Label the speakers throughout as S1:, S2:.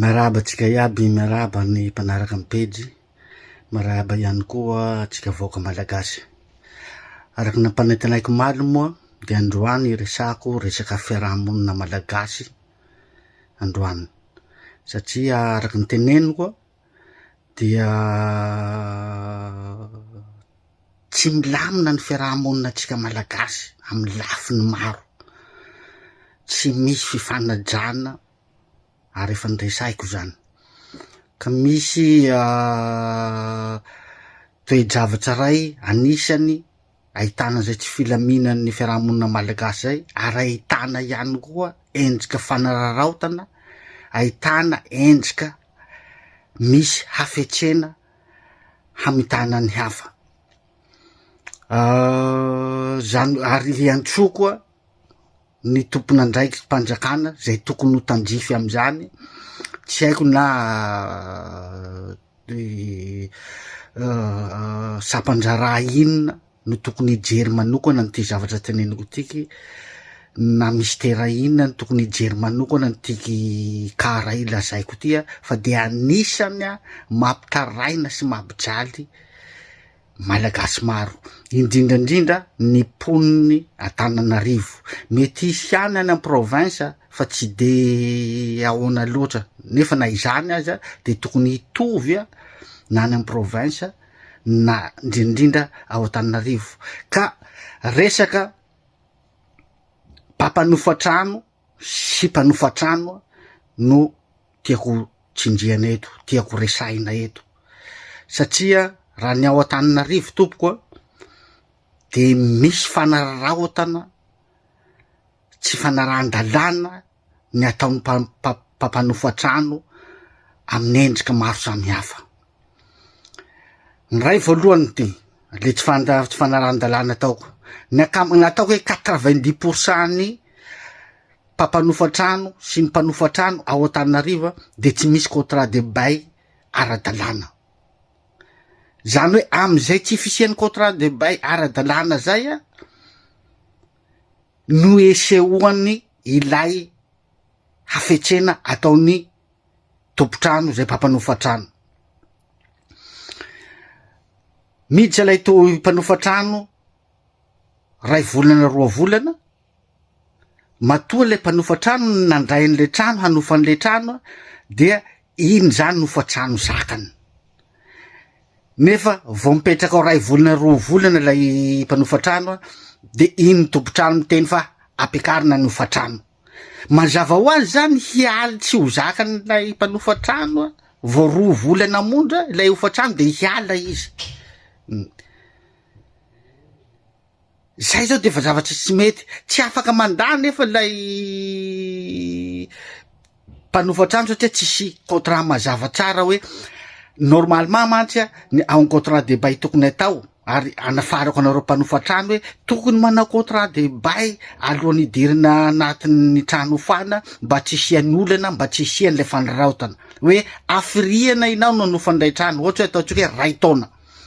S1: Miarahaba antsika iaby, miarahaba ny mpanaraka ny pejy, miarahaba ihany koa antsika vahoaka malagasy. Araka ny nampanantenaiko omaly moa dia androany hiresahako resaka fiaraha-monina malagasy androany satria araka ny teneniko dia tsy milamina ny fiaraha-monina antsika malagasy amin'ny lafiny maro, tsy misy fifanajana. ary efa noresahiko izany. Ka misy toe-javatra iray anisany ahitana izay tsy filaminan'ny fiarahamonina malagasy izay ary ahitana ihany koa endrika fanararaotana, ahitana endrika misy hafetsena hamitana ny hafa. Izany ary hiantsoa koa ny tompon'andraiki-panjakana izay tokony ho tandrify amin'izany, tsy haiko na sampan-draharaha inona no tokony hijery manokana an'ity zavatra teneniko ity, na mistera inona no tokony hijery manokana an'ity cas iray lazaiko ity fa dia anisany mampitaraina sy mampijaly. Malagasy maro, indrindra indrindra ny mponin'i Antananarivo. Mety hisy ihany any am-province fa tsy de ahoana loatra, nefa na izany aza de tokony hitovy na any am-province na indrindra indrindra ao Antananarivo ka resaka mpampanofa trano, sy mpanofa trano no tiako tsindriana eto, tiako resahina eto satria raha ny ao Antananarivo tompoko a de misy fanararaotana tsy fanarahan-dalàna ny ataon'ny mpampanofa trano amin'ny endrika maro samihafa. Ny iray voalohany dia le tsy fanda- tsy fanaran-dalàna ataoko. Ny ankama- ny ataoko hoe quatre vingt dix pour cent ny mpampanofa trano sy ny mpanofa trano ao Antananarivo a de tsy misy contrat de bail ara-dalàna, zany hoe am'zay tsy fisian'ny contrat de bail ara-dalàna zay a no isehoan'ny ilay hafetsena ataon'ny tompon-trano izay mpampanofa trano. Miditra ilay to mpanofa trano ray volana roa volana, matoa ilay mpanofa trano nandray an'ilay trano hanofa an'ilay trano dia iny izany no fa trano zakany. Nefa vao mipetraka ao ray volana roa volana ilay mpanofa trano dia iny tompon-trano miteny fa ampiakarina ny hofa-trano. Mazava ho azy izany hialy tsy ho zakan'ilay mpanofa trano vao roa vola namondra ilay hofantrano dia hiala izy. Izay izao dia efa zavatra tsy mety. Tsy afaka mandà nefa ilay mpanofa trano satria tsisy contrat mazava tsara hoe normalement mantsy ny en contrat de bail tokony atao ary anafarako anareo mpanofa trano hoe tokony manao contrat de bail alohan'ny hidirana anatin'ny trano hofana mba tsy hisian'ny olana mba tsy hisian'ilay fanaraotana hoe afiriana ianao no hanofa an'ilay trano ohatra hoe ataontsika hoe ray taona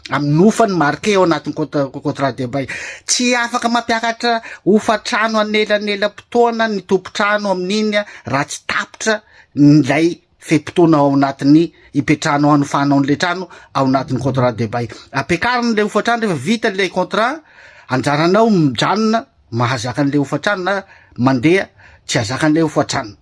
S1: amin'ny hofany marqué ao anatin'ny contra- contrat de bail tsy afaka mampiakatra hofantrano anelanelam-potoana ny tompon-trano amin'iny a, raha tsy tapitra ilay fe-potoana ao anatin'ny ipetrahanao hanofahanao an'ilay trano ao anatin'ny contrat de bail ampiakarina ilay hofantrano rehefa vita ilay contrat anjaranao mijanona mahazaka an'ilay hofantrano na mandeha tsy hazaka an'ilay hofantrano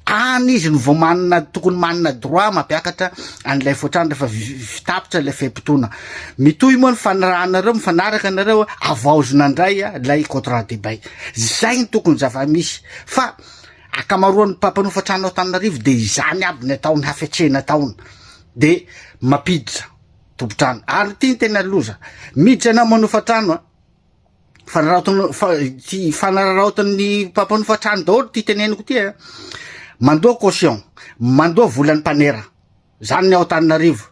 S1: any izy no vao manana tokony manana droit mampiakatra an'ilay hofantrano rehefa vitapitra ilay fe-potoana mitohy moa ny fanirahanareo mifanaraka anareo avaozina indray ilay contrat de bail zay ny tokony zava-misy fa Ankamaroan'ny mpampanofa trano ao Antananarivo dia izany aby ny ataony hafetsena ataony dia mampiditra tompon-trano ary ity ny tena loza miditra ianao manofa trano a fanararaotiny fa ity fanararaotin'ny mpampanofa trano daholo ity teneniko ity a mandoa caution mandoa volan'ny mpanera Zany ny ao Antananarivo.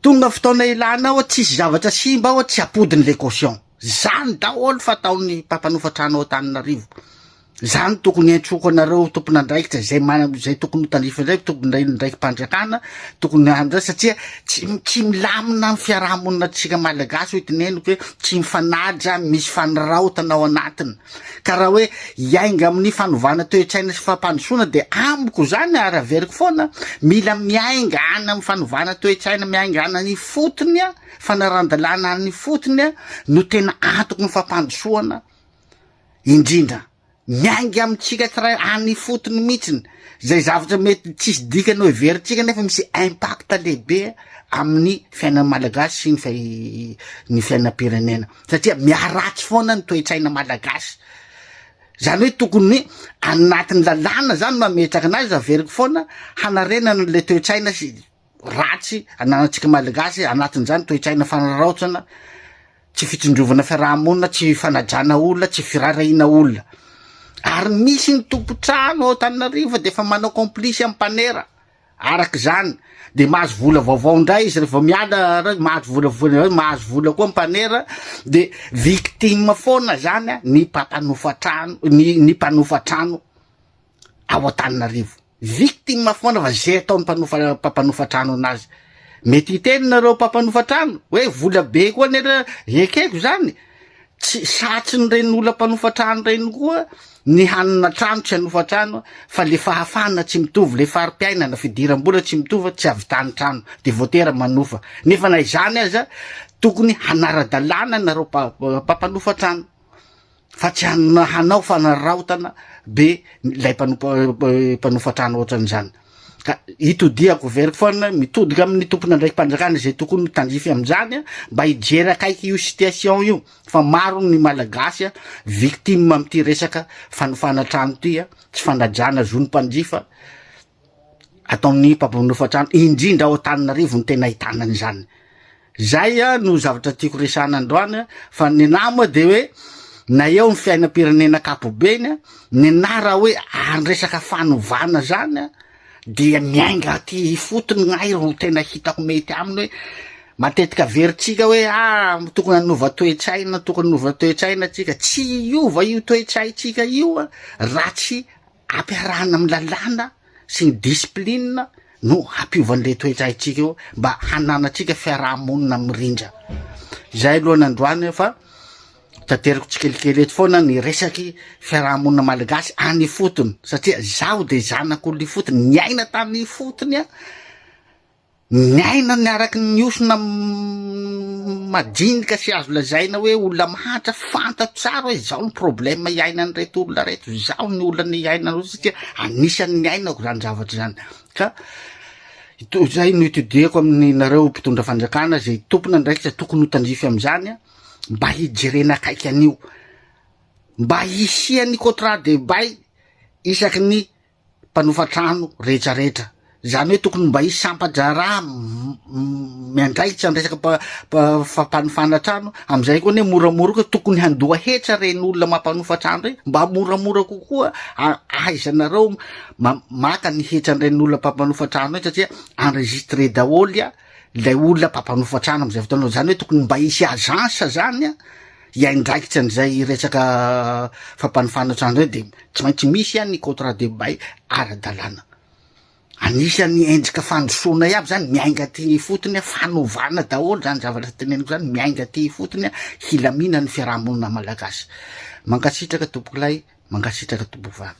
S1: Tonga fotoana ilana ao tsisy zavatra simba ao tsy apodiny le caution. Zany daholo fataon'ny mpampanofa trano ao Antananarivo. Zany tokony entroko anareo tompon'andraikitra izay mana izay tokony ho tandrify indray tokony indray ndraikim-pandriakana tokony handray satria tsy tsy milamina ny fiarahamonina tsika malagasy hoy tineniko hoe tsy mifanaja misy faniraotana ao anatiny. Ka raha hoe hiainga amin'ny fanovana toe-tsaina sy fampandrosoana dia amiko izany ary averiko foana, mila miainga any amin'ny fanovana toe-tsaina, miainga any an'ifotony, fanaran-dalàna any ifotony no tena antoky ny fampandrosoana indrindra. Miainga amintsika tsiray any ifotony mihitsiny izay zavatra mety tsisy dikany ho heverintsika nefa misy impact lehibe amin'ny fiainan'ny Malagasy sy ny fiainam-pirenena. satria miharatsy foana ny toe-tsaina malagasy, zany hoe tokony anatin'ny lalàna zany no ametraka anazy, averiko foana hanarenana an'le toe-tsaina sy ratsy ananantsika malagasy, anatin'izany toe-tsaina fanaraotsana, tsy fitsindrovana fiaraha-monina, tsy fanajana olona, tsy firarahiana olona, ary misy ny tompon-trano ao Antananarivo fa dia efa manao complice amin'ny mpanera. Araka izany, dia mahazo vola vaovao indray izy rehefa miala, mahazo vola vola mahazo vola koa ny mpanera, dia victime foana izany ny mpampanofa trano, ny ny mpanofa trano ao Antananarivo. Victime foana fa izay ataon'ny mpanofa mpampanofa trano anazy. Mety hiteny nareo mpampanofa trano hoe vola be koa nera ekeko izany. Tsy satrin'ireny olona mpanofa trano ireny koa ny hanana trano, tsy hanofa trano, fa le fahafahana tsy mitovy, le fari-piainana, fidiram-bola tsy mitovy, tsy havitan'ny trano, de voatera manofa. Nefa na izany aza, tokony hanara-dalàna nareo mpampanofa trano, fa tsy hanao fanararaotana be ilay mpanofa trano ohatran'izany. ka itodihako very foana mitodika amin'ny tompon'andraiki-panjakana izay tokony ho tandrify amin'izany mba hijery akaiky io situation io fa maro ny malagasy victime amin'ity resaka fanofana trano ity tsy fanajana zon'ny mpanjifa ataon'ny mpampanofa trano indrindra ao Antananarivo no tena ahitana an'izany Zay no zavatra tiako resahana androany a, fa ny anahy moa de hoe na eo ny fiainam-pirenena ankapobeny a, ny anahy raha hoe ary ny resaka fanovana zany a, dia miainga aty ifotony ny ahy ro tena hitako mety aminy hoe matetika averintsika hoe ah tokony hanova toe-tsaina, tokony hanova toe-tsaina tsika, tsy hiova io toe-tsaintsika io a raha tsy Ampiarahana amin'ny lalàna sy ny disiplinina no hampiovan'ireo toetra antsika io mba hananantsika fiaraha-monina mirindra. Izay aloha nandroany fa tanteriko tsikelikely eto foana ny resaky fiaraha-monina malagasy any ifotony satria zaho dia zanak'olona ifotony, niaina tany ifotony aho. Miaina ny araka ny hiosona madinika sy azo lazaina hoe olona mahantra, fantatro tsara hoe izao ny problème iainan'ireto olona ireto, izao ny olana iainan'ireto olona satria anisan'ny niainako izany zavatra izany. Ka to- izay no itodihako aminareo mpitondra fanjakana izay tompona andraikitra tokony ho tandrify amin'izany a, mba hijerena akaiky an'io, mba hisian'ny contrat de bail isaky ny mpanofa trano rehetrarehetra. Izany hoe tokony mba hisy sampa-draharaha miandraikitra ny resaka fampanofana trano. Amin'izay koa anie moramora koa tokony handoa hetra ireny olona mampanofa trano ireny mba moramora kokoa ahaizanareo maka ny hetran'ireny olona mpampanofa trano ireny satria enregistré daholo ilay olona mpampanofa trano amin'izay fotoana. Izany hoe tokony mba hisy agence izany. hiaindraikitra an'izay resaka fampanofana trano izay dia tsy maintsy misy ihany ny contrat de bail ara-dalàna. Anisan'ny endrika fandrosoana iaby izany, miainga aty ifotony, fanovana daholo izany zavatra teneniko izany, miainga aty ifotony, hilaminan'ny fiarahamonina malagasy. Mankasitraka tompokolahy, mankasitraka tompokovavy.